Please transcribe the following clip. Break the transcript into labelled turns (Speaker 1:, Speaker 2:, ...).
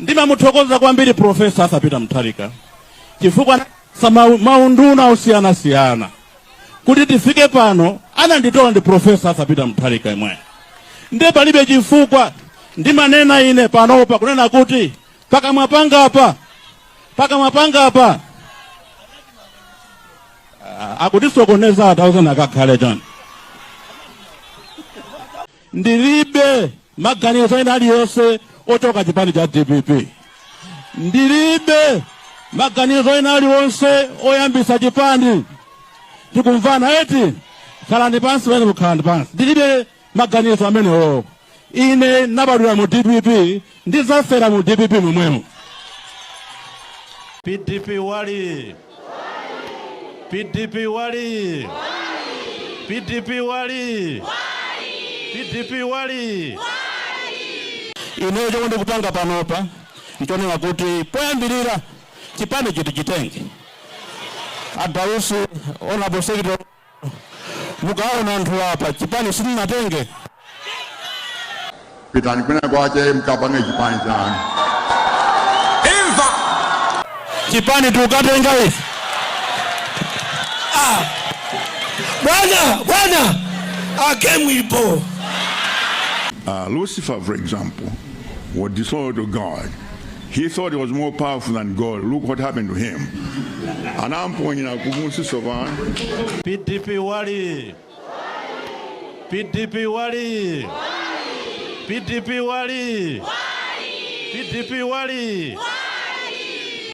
Speaker 1: Ndimamuthokoza kwambiri Professor Arthur Peter Mutharika chifukwa anatipatsa ma- maunduna osiyanasiyana kuti tifike pano. Ananditola ndi Professor Arthur Peter Mutharika imwe ndiye palibe chifukwa ndimanena ine panopa kunena kuti pakamwa pangapa pakamwa pangapa Ah, akutisokoneza atauzana kakhale chani ndilibe maganizo ena aliyonse ochoka chipani cha dpp ndilibe maganizo ena aliwonse oyambitsa chipani tikumvana eti khalani pansi pomwe mukhalani pansi ndilibe maganizo amenewo ine nabadwira mu dpp Ndidzafera mu dpp
Speaker 2: momwemo. DPP woyee. DPP woyee. DPP woyee. DPP
Speaker 1: woyee. Ineyo chomwe ndikupanga panopa ndichonena kuti poyambirira chipani chiti chitenge a Dausi honorable secretary Mukaona anthu apa chipani
Speaker 3: simunatenge. Pitani kwina kwake mkapange chipani chanu.
Speaker 1: Imva chipani tikatenga ife.
Speaker 4: Ah. Bwana, bwana. Ah, game ipo. Uh,
Speaker 3: Lucifer, for example, was disloyal to God. He thought he was more powerful than God. Look what happened to him. Anamponyera kumunsi tsopano. PDP
Speaker 2: wali. PDP wali. PDP wali. PDP wali.